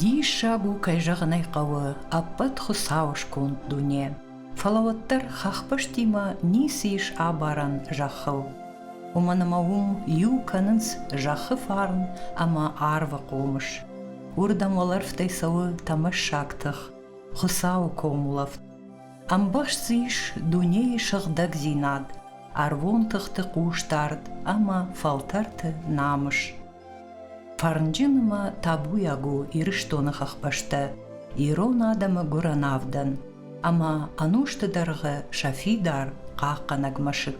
Диссаг у, кӕй зӕгъын ӕй хъӕуы, ӕппӕт Хуыцау сконд дуне. Фӕлӕ уӕддӕр хӕхбӕстимӕ ницы ис абарӕн зӕххыл. Уымӕн ӕмӕ уым иу кӕнынц зӕххы фарн ӕмӕ арвы хъомыс. Уырдӕм уӕлӕрвтӕй цӕуы тӕмӕссаг тых, Хуыцауы комулӕфт. Ӕмбӕхст дзы ис дунейы сыгъдӕгдзинад, ӕрвон тыхты хъусдард ӕмӕ фӕлтӕрты намыс. Фӕрнджын ӕмӕ табуйаг у Ирыстоны хӕхбӕстӕ ирон адӕмы гуырӕн авдӕн ӕмӕ ӕнусты дӕргъы сӕ фидар хъахъхъӕнӕг мӕсыг.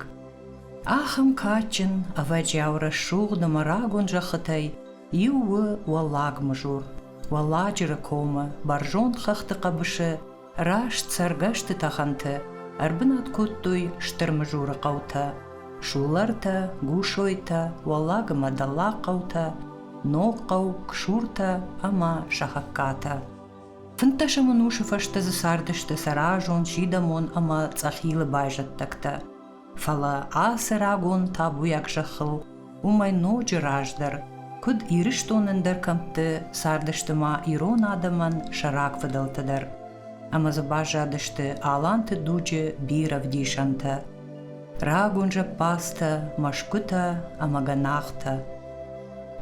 Ахӕм кадджын, ӕвӕджиау рӕсугъд ӕмӕ рагон зӕххытӕй Иу у Уӕллаг Мызур, Уӕлладжыры комы бӕрзонд хӕхты хъӕбысы раст цӕргӕсты тӕхӕнты ӕрбынат кодтой Стыр Мызуры хъӕутӕ, Суллартӕ, Гусойтӕ, Уӕллаг ӕмӕ Дӕллаг хъӕутӕ, Ног хъӕу, Ксуртӕ ӕмӕ Сӕхӕгкатӕ. Фынддӕсӕм ӕнусы фӕстӕ дзы цардысты сӕ разон, сидӕмон ӕмӕ Цъӕхилы байзӕддӕгтӕ. фӕлӕ ацы рагон табуйаг зӕххыл уымӕй ноджы раздӕр, куыд Ирыстон ӕндӕр кӕмтты, цардысты ма ирон адӕмӕн сӕ рагфыдӕлтӕ дӕр, ӕмӕ дзы баззадысты Аланты дуджы бирӕ вдисӕнтӕ рагон зӕппадзтӕ, мӕсгуытӕ ӕмӕ гӕнахтӕ.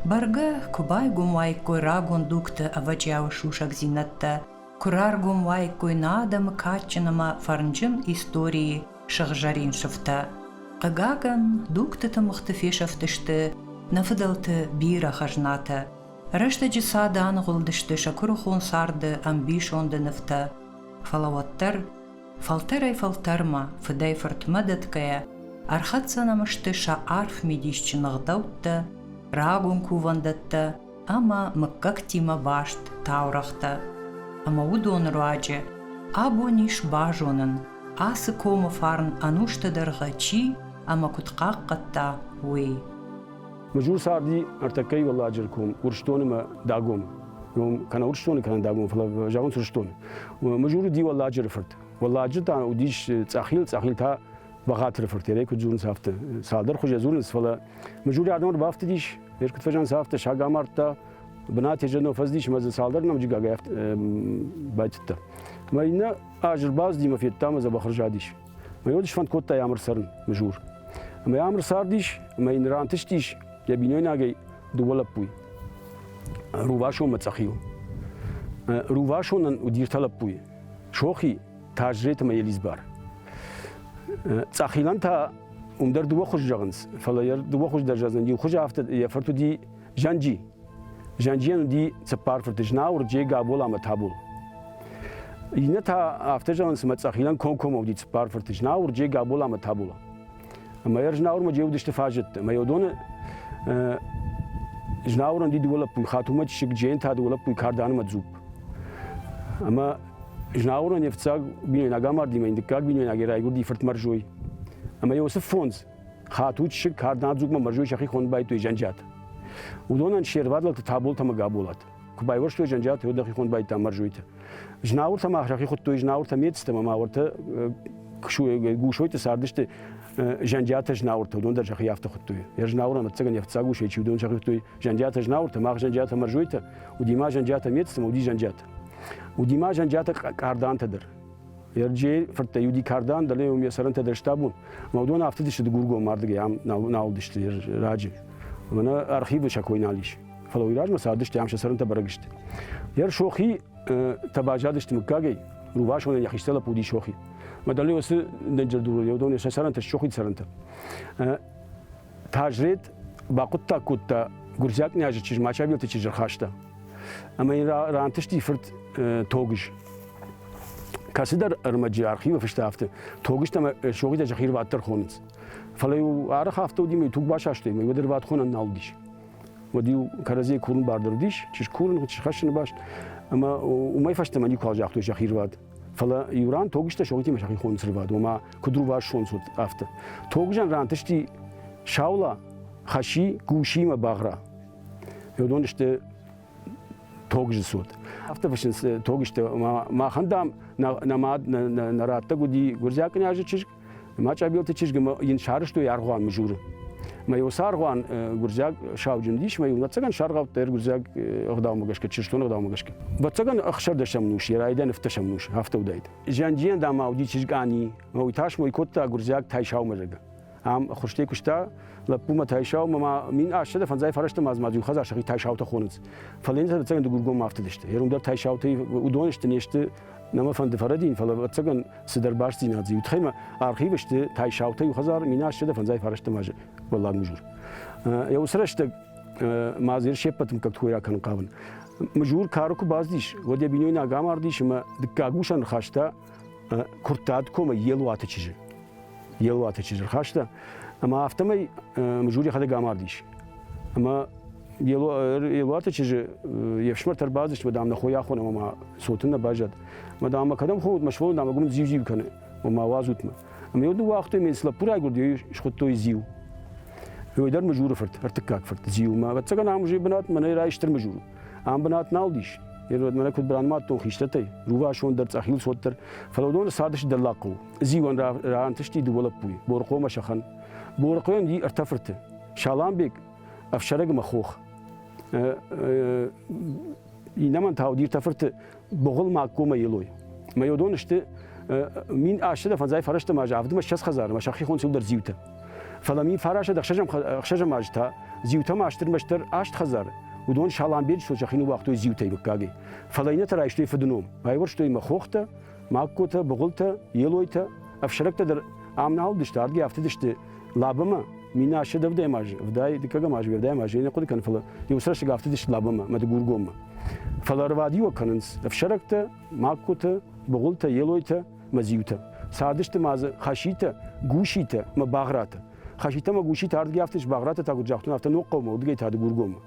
Бӕргӕ, куы байгом уаиккой рагон дугты ӕвӕджиауы сусӕгдзинӕдтӕ, куы раргом уаиккой нӕ адӕмы кадджын ӕмӕ фӕрнджын историйы сыгъзӕрин сыфтӕ. Хъыгагӕн, дугты тымыгъты фесӕфтысты нӕ фыдӕлты бирӕ хӕзнатӕ. Рӕстӕджы цады аныгъуылдысты сӕ куырыхон царды ӕмбисонды нывтӕ. Фӕлӕ уӕддӕр, фӕлтӕрӕй-фӕлтӕрмӕ, фыдӕй-фыртмӕ дӕтгӕйӕ, ӕрхӕццӕ нӕм сты сӕ арф мидисджын ӕгъдӕуттӕ, рагон кувӕндӕттӕ, ӕмӕ мыггӕгтимӕ баст таурӕгътӕ. Ӕмӕ уыдоны руаджы абон ис базонӕн, ацы комы фарн ӕнусты дӕргъы чи ӕмӕ куыд хъахъхъӕдта, уый. Мызур царди ӕртӕккӕй Уӕлладжыры ком Урсдон ӕмӕ Дагом ном кӕнӕ Урсдоны кӕнӕ Дагом, фӕлӕ зӕгъынц Урсдон. Мызур уыди Уӕлладжыры фырт. Уӕлладжыр та уыдис Цъӕхил, Цъӕхил та Бахатыры фыртерӕй куыд дзурынц, афтӕ цалдӕр хуызӕй дзурынц, фӕлӕ Мыжури адӕмы бафтыдис, ме ркъуыд фӕзӕнц, афтӕ саг амардта, бынат еженыл фӕздис ӕмӕ дзы цалдӕр нӕмыджыгагӕй байтыдта. Мӕ иннӕ аз ӕрбацыди мӕ федта мӕ дзӕбӕх рзадис. Мӕ йод сфӕнд кодта ӕмыр цӕрын, Мыжур. Ӕмӕ ӕмыр цардис, ӕмӕ йын рантыстис йӕ бинойнагӕй дыууӕ лӕппуй. Рувасонмӕ цъӕхил. Рувасонӕн уыди ӕртӕ лӕппуйы. Сохи Тазжет ӕмӕ Елизбар. Цъахилан та уым дӕр дыууӕ хуыз зӕгъынц, фӕлӕ йӕ дыууӕ хуыз дӕр зӕгъдзӕн. Иу хуыз афтӕ, йӕ фырт уыди Зӕнджи. Зӕнджийӕн уыди цыппар фырты Знауыр, Джей, Габол ӕмӕ Табул. Иннӕ та афтӕ зӕгъынц, ӕмӕ Цъахилан комкоммӕ уыди цыппар фырты Знауыр, Джей, Габол ӕмӕ Табул. Ӕмӕ йӕ Знауырмӕ джеудысты фӕзыдта. Ӕмӕ йӕ уыдоны Знауырӕн ди дыууӕ лӕппуйы, Хатумӕ диссыг, Джейн та дыууӕ лӕппуйы кардӕнымӕ дзупп. Ӕмӕ Знауырӕн йе фцӕг бинойнаг амардимӕ йын дыккаг бинойнагӕй райгуырди фыртмӕрзой. Ӕмӕ Иосиф фондз Хату диссыг кардӕнад дзуппмӕ мӕрзой сӕхи хоны байтой Зӕнджиат. Уыдонӕн се рвад лӕгты Таболт ӕмӕ Габолат. Куы байуӕрстой зӕнджиаты, уӕд дӕхи хонд байдта мӕрзойты. Знауыртӕ ма рахи хуыдтой знауыртӕ мецтӕ, ма уӕртӕ гусойты цардысты зӕнджиатӕ знауыртӕ, уыдон дӕр сӕхи афтӕ хуыдтой. Йӕ знауырӕн ӕвӕццӕгӕн йӕ фыццаг усӕй чи уыдон сӕхи хуыдтой зӕнджиатӕ знауыртӕ, мах зӕнджиатӕ мӕрзойтӕ, уыди ма зӕнджиатӕ мецтӕ, уыди зӕнджиатӕ. Уыди ма зӕнджиатӕ кардантӕ дӕр. Ерджейы фырттӕй уыди кардан, дӕлӕ уым йӕ цӕрӕнтӕ дӕр стабон. Ӕмӕ уыдон афтыдысты дыгургом мардыгӕй, ам нал, нал уыдысты раджы. Мӕнӕ архивы сӕ кой нал ис. фӕлӕ уый размӕ цардысты ам сӕ цӕрӕнтӕ бӕрӕг сты. Йӕр сохи тӕ базадысты мыггагӕй, рувасонӕн йӕ хистӕр лӕппу уыди сохи. Мӕ дӕле уыцы дӕнджердуры йӕ уыдон сӕ цӕрӕнтӕ сохи цӕрӕнтӕ. Тазрет бахъуыддаг кодта гуырдзиаг князы чызг Мачабелты чызджы рхаста. Ӕмӕ йын рантысти фырт Тогыз. Кӕцыдӕр ӕрмӕджы архивы фыста афтӕ, Тогызтӕ ӕмӕ сохитӕ зӕхирвӕд дӕр хонынц. Фӕлӕ-иу арӕх афтӕ уыди, мӕ туг басастой, мӕ уӕд ӕрвӕтхонӕн нал уыдис. уӕд-иу кӕрӕдзийӕ курын бардӕрдис, чи скурын, чи схӕссыны баст, ӕмӕ уымӕй фӕстӕмӕ никуал загътой сӕхи рвад. Фӕлӕ иу ран тогызтӕ согтимӕ сӕхи хоныц рвад, ома куыд рувас сонцуд, афтӕ. Тогызӕн рантысти Саула, Хӕси, Гуси мӕ Багъра. Уыдон сты тогызы цот. Афтӕ фыссынц тогызтӕ. Махӕн, дам, нӕ мад, нӕ раттӕг уыди гуырдзиаг кънйазы чызг, Мачъабелты чызг йын сарызтой аргъуан мызуры. Мӕ уыцы аргъуан гуырдзиаг сауджын уыдис, мӕ ӕвӕццӕгӕн саргъӕвдта ӕр гуырдзиаг ӕгъдаумӕ гӕсгӕ, чырыстон ӕгъдаумӕ гӕсгӕ. Ӕвӕццӕгӕн ӕхсӕрдӕсӕм нус, йӕ райдиан ӕфтдӕсӕм нус, афтӕ уыдаид. Зиандийӕн дам уыди чызг Ани, уый тас мой кодта гуырдзиаг Тайсаумӕ, зӕгъгӕ. Ам хуырстӕй куыста, лӕппумӕ Тайсау, мӕ мин ӕсӕдӕ фӕндзай фӕрӕзты ма ма иу хӕдзар сӕхи Тайсаутӕ хонынц. Фӕлӕ йын сӕ дӕццӕгӕн дыгургоммӕ афтыдысты. Йӕ ром дӕр Тайсаутӕй уыдон сты, не сты Нӕ мӕ фӕнды фӕрӕдин, фӕлӕ ӕцӕгӕн цыдӕр бастдзинад дзы иу тхӕмӕ архивы сты Тайсаутӕ иу хӕдзар мин астӕдӕ фӕндзай фарӕстӕм азы уӕллаг мужур. Йӕ уыцы рӕстӕг ма дзы се ппӕт мыггӕгты хойраг кӕнын хъавын. Мужур кары куы бацыдис, уӕд йӕ бинойнаг амардис ӕмӕ дыккаг усӕн хаста Куырттаты комӕй Елуаты чызджы. йӕ уаты чызджы рхаста, ӕмӕ афтӕмӕй Мжур йӕхӕдӕг амардис. Ӕмӕ Елуаты чызджы йе фсымӕр ӕрбацыдысты, дам, нӕ хойы ахон ӕмӕ ма цоты нӕ баззад. Ӕмӕ, дам, кӕдӕм хойут мӕ сывӕллон, дам, ӕгом зиу-зиу кӕны, ӕмӕ уадзут мӕ. Ӕмӕ йыл дыууӕ уагътой, ме цы лӕппу райгуырд, йӕ схуыдтой Зиу. Ой дӕр Мыжуры фырт, ӕртыккаг фырт Зиу. Мӕ ӕвӕццӕгӕн ам уызӕй бынат мӕнӕй райстыр Мыжур. Ам бынат нал дис. Йӕ мӕнӕ куыд бранмӕттон хистӕртӕй, рувасон дӕр, цъӕхил цот дӕр, фӕлӕ уыдон цардысты дӕллаг хъӕуы. зиуӕн раантысти дыууӕ лӕппуйы, Борыхъомӕ сӕхӕн. Борыхъойӕн и ӕртӕ фырты. Саламбег, ӕфсӕрӕгмӕ хох. Иннӕмӕн та уыди ӕртӕ фырты Богъылмаг комӕ Елой. Мӕ уыдон сты мин астӕдӕ фӕндзай фӕрӕзтӕм азы авдмӕ ссӕдз хӕдзар ӕмӕ сӕхихон цылдӕр зиутӕ. Фӕлӕ мин фарасӕд ӕхсӕзӕм аз та зиутӕм астырмӕстдӕр аст хӕдзар, уыдон Саламбеджы сыл сӕхи ныууагътой зиутӕй мыггагӕй. Фӕлӕ иннӕтӕ райстой фыдыном, байуӕрстой мӕ хохтӕ, Магкотӕ, Быгъуылтӕ, Елойтӕ, ӕфсӕрӕгтӕ дӕр ам нал уыдысты, адгӕ афтыдысты лабӕмӕ, минасӕд ӕвдӕм аз, ӕвдай, дыккӕгӕм аз, уӕрдӕм аз, я не хъуыды кӕн, фӕлӕ иу сӕрсыг афтыдысты лабӕмӕ, мӕдыгургоммӕ. Фӕлӕ рвадиуӕг кӕнынц ӕфсӕрӕгтӕ, магкотӕ, быгъуылтӕ, елойтӕ, мӕзиутӕ. Цардысты ма дзы хаситӕ, гуситӕ мӕ багъратӕ. Хаситӕ мӕ гуситӕ ардгӕй афтыдис, багъратӕ та куыд загътон, афтӕ ног хъӕумӕ, уыдыгӕй та Дыгургоммӕ.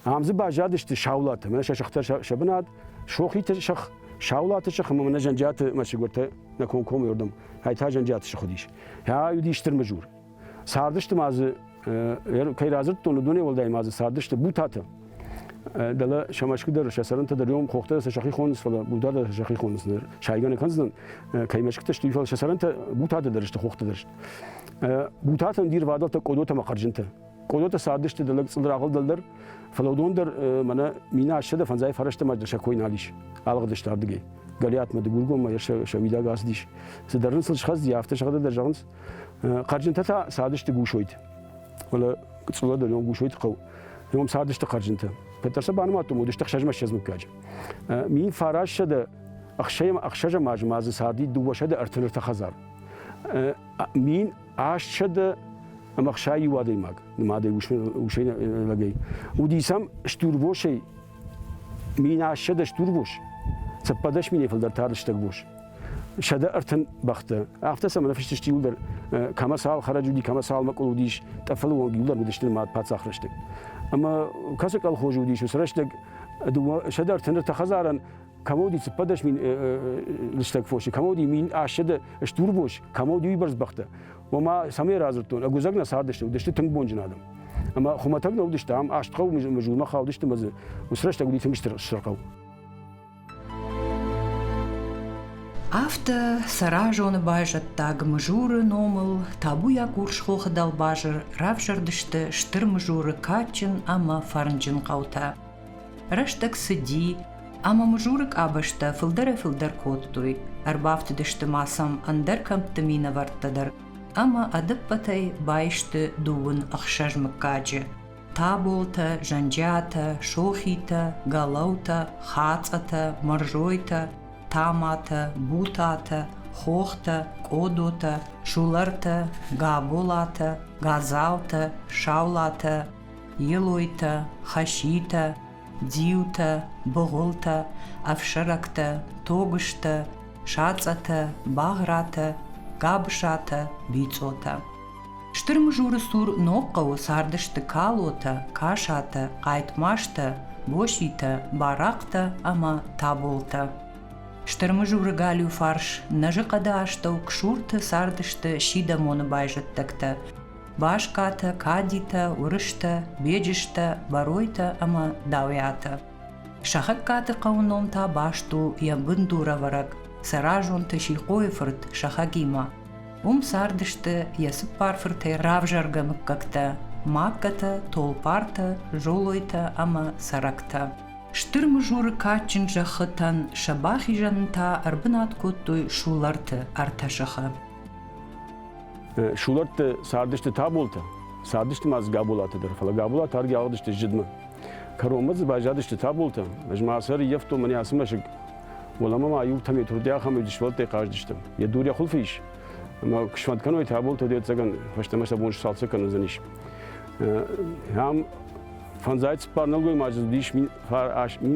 Ам дзы баззадысты саулаты, мӕнӕ сӕ сыхтӕ сӕ бынат, сохиты сых, саулаты сых ӕмӕ мӕнӕ зӕнджиаты мӕсыгуыртӕ нӕ комкомы рдӕм, ӕй та зӕнджиаты сых уыдис. Ӕ уыдис Стырмызур. Цардысты ма дзы, кӕй радзырдтон, уыдонӕй уӕлдай ма дзы цардысты Бутатӕ. Дӕлӕ сӕ мӕсгуы дӕр, сӕ цӕрӕнтӕ дӕр иом хохтӕ сӕ сӕхи хонынц, фӕлӕ Бутатӕ дӕр сӕхи хонынц ныр. Сайгӕ нӕ кӕндзынӕн, кӕй мӕсгуытӕ сты, фӕлӕ сӕ цӕрӕнтӕ Бутатӕ дӕр сты, хохтӕ дӕр сты. Бутатӕн ди рвадӕлтӕ, къодотӕ ӕмӕ хъӕрзынтӕ. Къодоты цардысты дӕлӕг цъылдрагъыл дӕлдӕр, фӕлӕ уыдон дӕр мӕнӕ минӕ ӕссӕдӕ фӕндзай фӕрӕстӕмӕ сӕ кой нал ис. Алыгъдысты ардыгӕй. Гӕлиатмӕ, Дыгургоммӕ сӕ, сӕ уидаг ацыдис. Цыдӕр ын сыл схӕцыди, афтӕ сӕхӕдӕг дӕр зӕгъынц. Хъӕрджынтӕ та цардысты Гусойты. Фӕлӕ Цъула дӕр ном Гусойты хъӕу. Ном цардысты хъӕрджынтӕ. Кӕддӕр сӕ банымадтон, уыдысты ӕхсӕзмӕ-ссӕдз мыггаджы. Мин фарассӕдӕ ӕхсӕзӕм азы ма дзы царди дыууӕсӕдӕ ӕртын ӕртӕ хӕдзар. Мин Астсӕдӕ ӕма хсайи адӕймаг, нумадӕй усӕй лӕгӕй, уди сӕм стурвосӕй мин астсӕдӕ стурвос, цӕппӕдӕс миней фалдӕр тардстӕг бос. Сӕдӕ ӕртын бӕхтӕ. Афтӕ сӕмӕ нӕфыстысти иуылдӕр, кӕмӕ цал хӕрӕджы уыди, кӕмӕ цал мӕкъуыл уыдис, тъӕффӕлы онг иуылдӕр уыдысты нымад паддзах рӕстӕг. Ӕмӕ кӕцы колхозы уыдис, уыцы рӕстӕг дыууӕ сӕдӕ ӕртын ӕртӕ хӕдзарӕн Комоди цыппӕдӕс мин лыстӕг фоси, комоди мин ӕсседӕ стурбос, комоди уйбӕрц бӕхтӕ. Ома, цӕмӕй радзырдтон, ӕгуыдзӕг нӕ цардысты, уыдысты тынг бонджын адӕм. Ӕмӕ хуымӕтӕг нӕ уыдысты ам, аст хъӕу Мызулмӕ хаудысты мӕ дзы уыцы рӕстӕг уыди тынг стыр хъӕу. Афтӕ сӕра зоны байзӕддаг Мызуры номыл табуйаг урсхохы дӕлбазыр равзӕрдысты Стыр Мызуры кадджын ӕмӕ фӕрнджын хъӕутӕ. Рӕстӕг цыди, ӕмӕ мызуры къабӕзтӕ фылдӕрӕй-фылдӕр кодтой. Ӕрбафтыдысты ма сӕм ӕндӕр кӕмтты минӕвӕрттӕ дӕр, ӕмӕ ӕдӕппӕтӕй баисты дыууын ӕхсӕз мыггаджы. Таболтӕ, Зӕнджиатӕ, Сохитӕ, Галаутӕ, Хацъатӕ, Мырзойтӕ, Таматӕ, Бутатӕ, Хохтӕ, Къодотӕ, Сулартӕ, Габолатӕ, Газалтӕ, Саулатӕ, елойтӕ хаситӕ дзиутӕ быгъуылтӕ ӕфсӕрӕгтӕ тогызтӕ сацъатӕ багъратӕ гӕбысатӕ бицъотӕ стыр мызуры цур ног хъӕуы цардысты калотӕ касатӕ хъайтмазтӕ боситӕ барахътӕ ӕмӕ таболтӕ стыр мызуры галиу фарс нӕзыхъӕды астӕу ксурты цардысты сидӕмоны байзӕддӕгтӕ Башкатӕ, Кадитӕ, Уырыстӕ, Беджызтӕ, Боройтӕ ӕмӕ Дауиатӕ. Сӕхӕгкаты хъӕуы ном та баст у йӕ бындурӕвӕрӕг Сӕразонты Сихъойы фырт Сӕхӕгимӕ. Уым цардысты йӕ цыппар фыртӕй равзаргӕ мыггӕгтӕ Магкатӕ, Толпартӕ, Золойтӕ ӕмӕ Цӕрӕктӕ. Стыр мызуры кадджын зӕххытӕн сӕ бахизӕнӕн та ӕрбынат кодтой Суларты ӕртӕ сыхы. Сулӕртты цардысты Таболтӕ, цардысты ма дзы Габолаты дӕр, фӕлӕ Габолат аргӕ ауадысты зыдмӕ. Кӕронмӕ дзы байзадысты Таболтӕ, ӕз ма сӕ ӕрыййӕфтон мӕнӕ ацы мӕсыг. Уӕлӕмӕ ма иутӕм йӕ турдӕй ахӕм ӕвдисвӕлттӕй хъазыдыстӕм. Йӕ дур йӕ хуылфы ис, ӕмӕ куы смӕт кӕной Таболтӕ, де цӕгӕн фӕстӕмӕ сӕ бон сцалцӕг кӕндзӕнис. Ам фӕндзай цыппар нӕлгоймаджы уыдис мин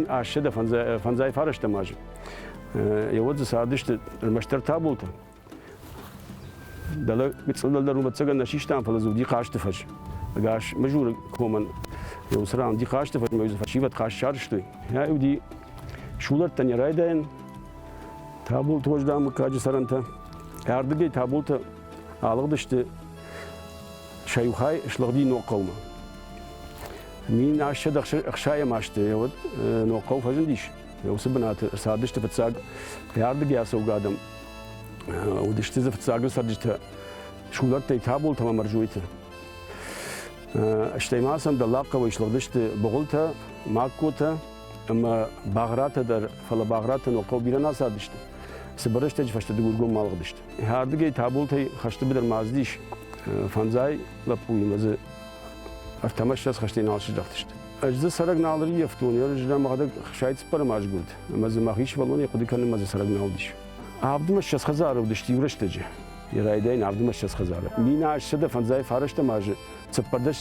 ассӕдӕ фӕндзай фарӕстӕм азы. Еуӕд дзы цардысты ӕрмӕстдӕр Таболтӕ, Дӕлӕ гыццыл дӕлдӕр рубӕццагӕн нӕ систам, фӕлӕ дзы уыди хъазты фӕз. Ӕгас Мызуры комӕн уый уыцы ран уыди хъазты фӕз, мӕ дзы фӕсивӕд хъазт сарызтой. Ӕ уыди сулӕрттӕн йӕ райдайӕн, Табулты Уӕздан мыггаджы цӕрӕнтӕ. Ӕрдыгӕй Табулты алыгъдысты сӕ иу хай слыгъди Ногхъӕумӕ. Мин ассӕд ӕхсайӕм азты йӕ уӕд Ногхъӕу фӕзындис. Йӕ уыцы бынаты цардысты фыццаг ӕрдыгӕй ацӕугӕ адӕм. Уыдысты дзы фыццагон цӕрджытӕ сулӕттӕй, табултӕ ӕмӕ мӕрзойты. Стӕй ма сӕм дӕллагхъӕуӕй слыгъдысты Быгъуылтӕ, Магкотӕ ӕмӕ Багъратӕ дӕр, фӕлӕ Багъратӕ ног хъӕу бирӕ нӕ цардысты. Цыбыр рӕстӕджы фӕстӕ дыгургоммӕ алыгъдысты. Ардыгӕй табултӕй хӕсты быдыр ма ацыдис фӕндзай лӕппуимӕ дзы ӕртӕмӕ ссӕдз хӕстӕй нал сыздӕхтысты. Ӕз дзы цӕрӕг нал ӕрййӕфтон, йӕ рызгӕ мӕхӕдӕг хсӕй цыппӕрӕм азгуырд, ӕмӕ дзы мӕхи сывӕллонӕй хъуыды кӕнынмӕ дзы цӕрӕг нал уыдис. Авд ӕмӕ ссӕдз хӕдзары уыдысты иу рӕстӕджы. Йӕ райдайын авд ӕмӕ ссӕдз хӕдзары. Минас сӕдӕ фӕндзайы фарӕстӕм азы цыппӕрдӕс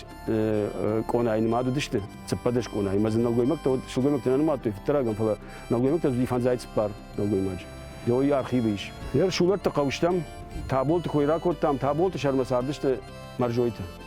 къонайы нымад уыдысты. Цыппӕрдӕс къонайы, ӕмӕ дзы нӕлгоймӕгтӕ уыд, сылгоймӕгтӕ нӕ нымадтой фыддӕрагӕн, фӕлӕ нӕлгоймӕгтӕ уыди фӕндзайы цыппар нӕлгоймаджы. Йӕ архивы ис. Йӕ рсулӕтты хъӕустӕм Таболты кой ракодтам, Таболты сӕрмӕ цардысты Мӕрзойты.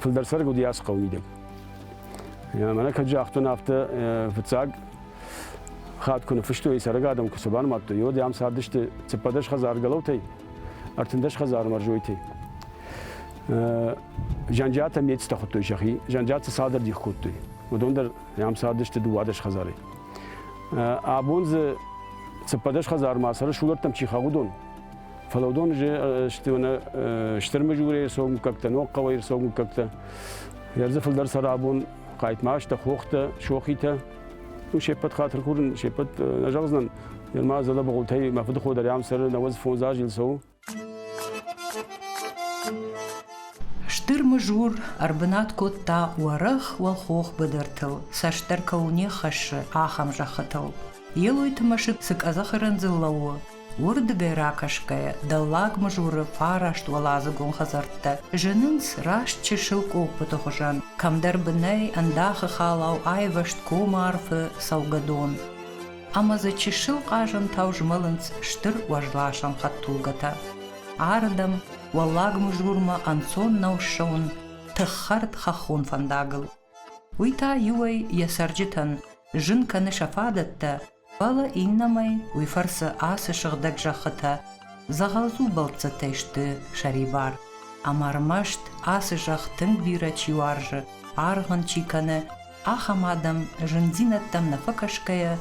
Фылдӕр сӕрг уыди ацы хъӕуы мидӕг. Мӕнӕ кӕд загътон афтӕ, фыццаг хатт куы ныффыстой, цӕрӕг адӕм куы цы банымадтой, уӕд ам цардысты цыппӕдӕс хӕдзар гӕлӕутӕй, ӕртындӕс хӕдзар мӕрзойтӕй. Зӕнджиатӕ мецтӕ хуыдтой сӕхи, зӕнджиатӕ цалдӕр дих кодтой. Уыдон дӕр ам цардысты дыууадӕс хӕдзарӕй. Абон дзы цыппӕдӕс хӕдзармӕ цӕры сулӕрттӕм чи хъӕуы уыдон, Фӕлӕ уыдон сты уыны стыр мыжурӕй сомггӕгтӕ, ногхъӕуӕй сомггӕгтӕ. Йӕ дзы фылдӕр сӕрӕбон хъайтмазтӕ, хохтӕ, сохитӕ. Ну, се ппӕт хатыр курын, се ппӕт нӕ зӕгъдзынӕн. Ныр ма зӕдӕ быгъуылтӕй мӕ фыдыхо дӕр ам цӕры науӕдз фондз аз ил цӕуы. Стыр мыжур ӕрбынат кодта уӕрӕх уӕлхох быдыртыл, цасдӕр кӕуыл не ххӕссы, ахӕм зӕххытыл. Елойты мӕсыг цы къӕдзӕхы рындзыл лӕууы, Уырдыгӕй ракӕсгӕйӕ, Дӕллаг Мызуры фараст уӕладзыгон хӕдзӕрттӕ зынынц раст чысыл къоппыты хуызӕн, кӕмдӕр бынӕй ӕндахы халау айвӕзт комарфы цӕугӕдон. Ӕмӕ дзы чысыл хъазӕнтау змӕлынц стыр уӕзласӕн хӕдтулгӕтӕ. Ардӕм, Уӕллаг Мызурмӕ ӕнцон нӕу ссӕуын тыххӕрд хӕххон фӕндагыл. Уый та иуӕй йӕ цӕрджытӕн зын кӕны сӕ фадӕттӕ, Фӕлӕ иннӕмӕй уый фӕрцы ацы сыгъдӕг зӕххытӕ дзӕгъӕлдзу бӕлццӕттӕй сты сӕрибар. Ӕмӕ ӕрмӕст ацы зӕхх тынг бирӕ чи уарзы, аргъ ын чи кӕны, ахӕм адӕм зындзинӕдтӕм нӕ фӕкӕсгӕйӕ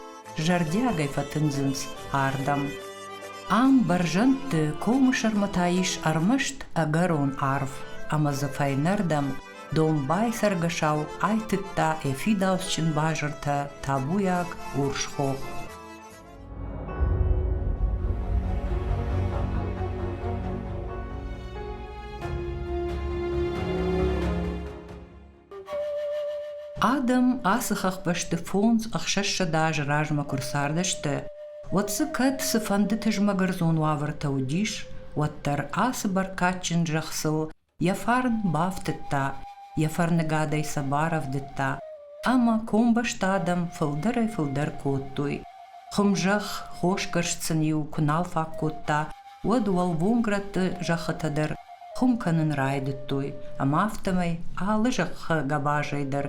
зӕрдиагӕй фӕтындзынц ардӕм. Ам бӕрзӕндты комы сӕрмӕ та ис ӕрмӕст ӕгӕрон арв, ӕмӕ дзы фӕйнӕрдӕм Домбай цӕргӕсау айтыдта ӕфидауцджын базыртӕ табуйаг урс хох. Адӕм ацы хӕхбӕсты фондз ӕхсӕзсӕдз азы размӕ куы рцардысты, уӕд дзы кӕд цыфӕнды тызмӕгӕрдзон уавӕртӕ уыдис, уӕддӕр ацы бӕркадджын зӕххыл йӕ фарн бафтыдта, йӕ фӕрныгадӕй сӕ барӕвдыдта ӕмӕ комбӕсты адӕм фылдӕрӕй-фылдӕр кодтой. Хуымзӕхх хосгӕрст сын-иу куы нал фаг кодта, уӕд уӕлвонгрӕтты зӕххытӕ дӕр хуым кӕнын райдыдтой, ӕмӕ афтӕмӕй алы зӕххы гӕбазӕй дӕр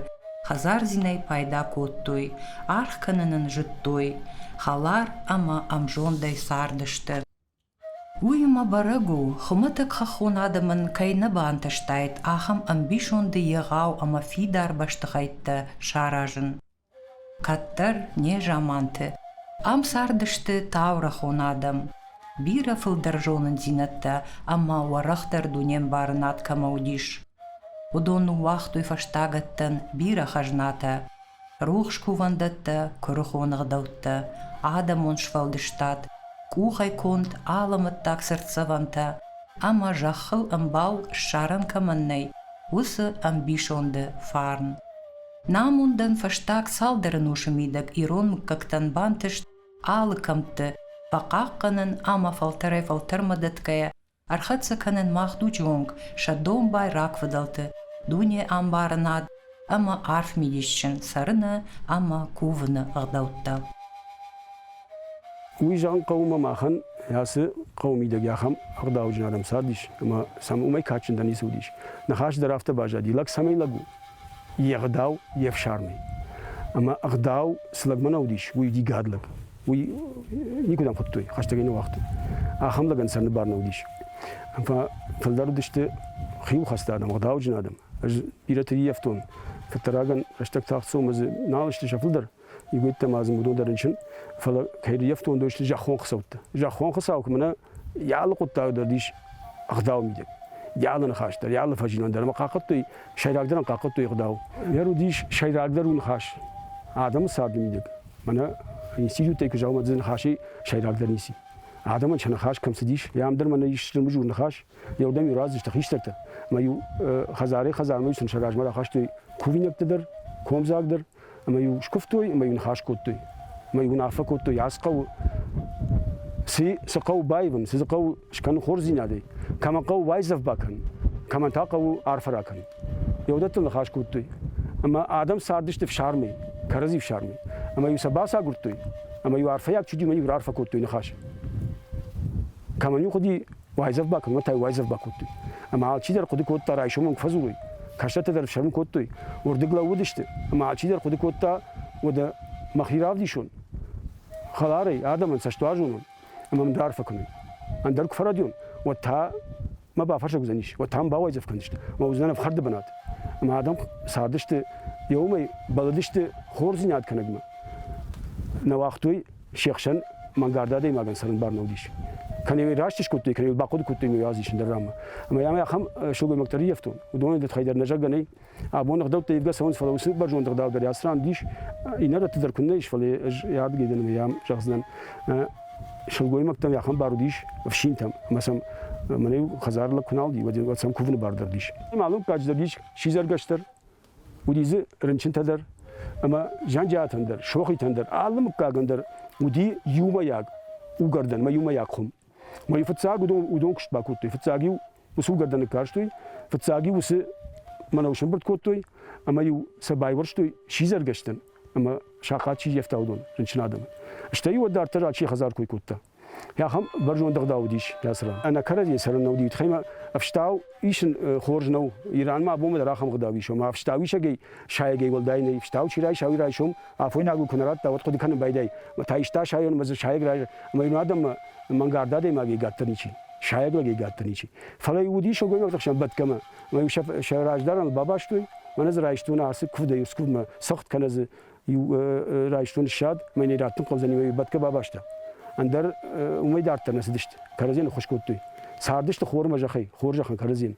хӕдзардзинӕй пайда кодтой, аргъ кӕнын ын зыдтой, хӕлар ӕмӕ ӕмзондӕй цардысты. Уый, мӕ бӕрӕг у, хуымӕтӕг хӕххон адӕмӕн кӕй нӕ бантыстаид ахӕм ӕмбисонды егъау ӕмӕ фидар бӕстыхӕйттӕ саразын. Кӕддӕр, не заманты, ам цардысты таурӕхъон адӕм. Бирӕ фылдӕр зонындзинӕдтӕ ӕмӕ уӕрӕхдӕр дунембарынад кӕмӕ уыдис, уыдон ныууагътой фӕстагӕттӕн бирӕ хӕзнатӕ, рухс кувӕндӕттӕ, куырыхон ӕгъдӕуттӕ, адӕмон сфӕлдыстад, къухӕй конд алӕмӕттаг цыртдзӕвӕнтӕ ӕмӕ зӕххыл ӕмбал ссарӕн кӕмӕн нӕй, уыцы ӕмбисонды фарн. Намондӕн фӕстаг цалдӕр ӕнусы мидӕг ирон мыггӕгтӕн бантыст алы кӕмтты фӕхъахъхъӕнын ӕмӕ фӕлтӕрӕй-фӕлтӕрмӕ дӕтгӕйӕ Ӕрхӕццӕ кӕнын мах дуджы онг сӕ домбай рагфыдӕлты дунеӕмбарынад ӕмӕ арф мидисджын цӕрыны ӕмӕ кувыны ӕгъдӕуттӕ. Уый зӕгъын хъӕуы ӕмӕ махӕн ацы хъӕуы мидӕг ахӕм ӕгъдауджын адӕм цардис ӕмӕ сӕм уымӕй кадджындӕр ницы уыдис. Ныхас дӕр афтӕ баззади, лӕг цӕмӕй лӕг у? Йе гъдау, йе фсармӕй. Ӕмӕ ӕгъдау цы лӕгмӕ нӕ уыдис, уый уыди гӕд лӕг. уый никуыдӕм хуыдтой, хӕстӕгӕй нӕ уагътой. Ахӕм лӕгӕн сӕрны бар нӕ уыдис. Фӕлдӕр уыдысты хиуылхӕцты адӕм, ӕгъдауджын адӕм. Ӕз бирӕты ӕййӕфтон, кӕддӕр рагӕн рӕстӕг тагъд цом, ӕз нал сты сӕ фылдӕр, игойттӕ ма дзы уыдон дӕр рынчын, фӕлӕ кӕй ӕййӕфтон, уыдон сты зӕххон хицӕуттӕ. Зӕххон хуыцау куы мӕнӕ йӕ алы хъуыддагы дӕр ис ӕгъдау мидӕг. Йӕ алы ныхас дӕр, йӕ алы фӕзилӕн дӕр ӕмӕ хъахъхъӕдтой, сӕйрагдӕр ӕм хъахъхъӕдтой ӕгъдау. Йӕр уыдис сӕйрагдӕр уыныхас адӕмы царды мидӕг. Мӕнӕ институтӕй куы дзаумадзы ныхасы сӕйрагдӕр ници. Адӕмӕн сӕ ныхас кӕм цыдис, йӕ ам дӕр мӕнӕ ис зырмызур ныхас, йӕ иу раздзысты хистӕртӕ. Мӕ иу хӕдзарӕй-хӕдзармӕ сын сӕ размӕ рахастой кувинӕгтӕ дӕр, комдзаг дӕр, ӕмӕ-иу скуывтой, ӕмӕ-иу ныхас кодтой, ӕмӕ-иу уынаффӕ кодтой, ацы хъӕуы цы цы хъӕу баивын, цы дзы хъӕу скӕнын хорздзинадӕй, кӕмӕ хъӕуы уайдзӕф бакӕнын, кӕмӕн та хъӕуы арфӕ ракӕнын. Йеуӕдӕттыл ныхас кодтой. Ӕмӕ адӕм цардысты фсармӕй, кӕрӕдзи фсармӕй. Ӕмӕ-иу сӕ бацагуырдтой, ӕмӕ-иу арфӕйаг чидимӕ-иу раарфӕ кодтой ныхас. Кӕмӕн-иу хъуыди уайдзӕф ба, кӕмӕн та уайдзӕф бакодтой. Ӕмӕ алчидӕр хъуыды кодта райсомӕн куы фӕдзурой. Кӕстӕртӕ дӕр фсӕрмы кодтой, уырдыг лӕууыдысты, ӕмӕ алчидӕр хъуыды кодта, уӕдӕ мӕхи равдисон. Хӕларӕй, адӕмӕн цӕстуарзон уон, ӕмӕ мын дӕ арфӕ кӕной. Ӕндӕр куы фӕрӕдион, уӕд та ма бафӕрсӕг уыдзӕнис, уӕд та мын бауайдзӕф кӕндзысты, ӕмӕ уыдзынӕн ӕфхӕрды бынат. Ӕмӕ адӕм цардысты, йӕ уымӕй бӕллыдысты хорздзинад кӕнӕгмӕ. Нӕ уагътой се хсӕн мӕнгард адӕймагӕн цӕрын бӕрн уыдис. Кӕнӕ йӕ раст скодтой, кӕнӕ йыл бахъуыды кодтой, ӕмӕ йӕ аз ис ӕндӕр ранмӕ. Ӕмӕ йӕм ахӕм сылгоймӕгтӕ ӕрййӕфтон, уыдонӕй дӕр хай дӕр нӕ зӕгъгӕ нӕй, Абон ӕгъдӕуттӕ ивгӕ цӕуынц, фӕлӕ уыцы бӕрзонд ӕгъдау дӕр ацы ран дис иннӕрӕтты дӕр куыннӕ ис, фӕлӕ ӕз ӕй адыгей дӕн ӕмӕ йӕм зӕгъдзынӕн, сылгоймӕгтӕм йӕ ахӕм бар уыдис ӕфсинтӕм, ӕмӕ сӕм мӕнӕ-иу хӕдзары лӕг куы нал уыди, уӕд уӕд сӕм кувыны бар дӕр уыдис. Мӕллуггаджы дӕр ис сидзӕргӕстӕр, уыди дзы рынчынтӕ дӕр ӕмӕ Зӕнджиатӕн дӕр, Сохитӕн дӕр, алы мыггагӕн дӕр уыди иумӕйаг угӕрдӕн мӕ иумӕйаг хуым. Мӕ фыццаг уыдон, уыдон куыст бакодтой. Фыццаг-иу усугӕрдӕны карстой, фыццаг-иу уыцы мӕнӕу сымбырд кодтой, ӕмӕ-иу сӕ байуӕрстой сидзӕргӕстӕн ӕмӕ сахат чи ййӕфта, уыдон, рынчын адӕмы. Стӕй уӕд дарддӕр адси хӕдзар кой кодта. Ахӕм бӕрзонд ӕгъдау уыдис йӕ ран. Ӕнӕ кӕрӕдзийӕ цӕрын нӕ уыди. Тхӕмӕ ӕфстау исын хорз нӕу. Иранмӕ абонмӕ дӕр ахӕм ӕгъдау ис, ома ӕфстауисӕгӕй сайӕгӕй уӕлдай нӕй. Ӕфстау чи райса, уый райсом афойнаг ку ку нӕ радта, уӕд хъуыды кӕнын байдайы, та иста сайон ӕмӕ дзы сайӕг разы, ӕмӕ иу адӕммӕ мӕнгард адӕймаг еггатдӕр ничи, сайӕг лӕг еггатдӕр ничи. Фӕлӕ уыди сылгоймӕгты хсӕн бӕтгӕмӕ, ӕмӕ-иу сӕ, сӕ раздарӕн бабастой, мӕнӕ дзы райстон ацы куывд, иу куывдмӕ цыхт кӕнӕ дзы иу райстон ссад, мӕ нӕ раттын хъӕудзӕни, мӕ бӕтгӕ бабаста. Ӕндӕр уымӕй дарддӕр нӕ цыдысты, кӕрӕдзийӕн ныххуыс кодтой. Цардысты хормӕ зӕхӕй, хорзӕхӕн кӕрӕдзийӕн.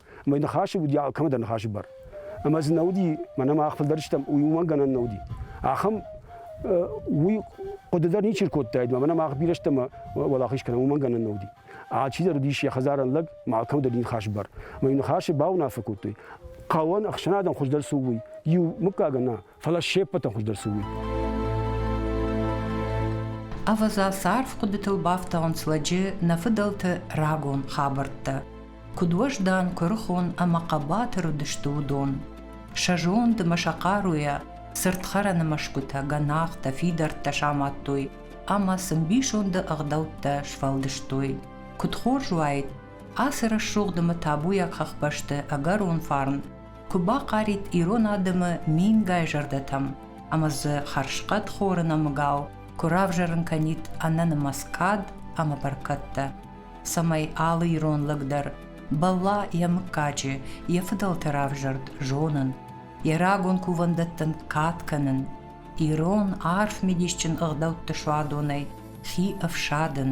Мӕ ныхасы уыди алкӕмӕ дӕр ныхасы бар. Ӕмӕ дзы нӕ уыди, мӕнӕ мах фылдӕр стӕм, уый уымӕн гӕнӕн нӕ уыди. Ахӕм уый хъуыды дӕр ничи ркодтаид, мӕнӕ мах бирӕ стӕм уӕлахиз кӕнӕм, уымӕн гӕнӕн нӕ уыди. Алчидӕр уыдис йӕ хӕдзарӕн лӕг, ма алкӕмӕ дӕр ныхасы бар. Мӕ ныхасы бауынаффӕ кодтой, хъӕуӕн ӕхсӕнадӕн хуыздӕр цы у, уый. Иу мыггагӕн нӕ, фӕлӕ се ппӕты хуыздӕр цы уыд. Ӕвӕдза царв хъуыдытыл бафтауынц лӕджы нӕ фыдӕлты рагон хабӕрттӕ. Куыд уӕздан, куырыхон ӕмӕ хъӕбатыр уыдысты уыдон. Сӕ зонд ӕмӕ сӕ хъаруйӕ цыртхӕрӕны мӕсгуытӕ, гӕнахтӕ, фидӕрттӕ самадтой ӕмӕ сын ӕмбисонды ӕгъдӕуттӕ сфӕлдыстой. Куыд хорз уаид, ацы рӕсугъд ӕмӕ табуйаг хӕхбӕсты ӕгӕрон фарн куы бахъарид ирон адӕмы мингай зӕрдӕтӕм ӕмӕ дзы хӕрзхъӕд хоры нӕмыгау куы равзӕрын кӕнид ӕнӕнымӕц кад ӕмӕ бӕркӕдтӕ, цӕмӕй алы ирон лӕг дӕр бӕлла йӕ мыггаджы, йӕ фыдӕлты равзӕрд зонын, йӕ рагон кувӕндӕттӕн кад кӕнын, ирон арф мидисджын ӕгъдӕутты суадонӕй хи ӕфсадын.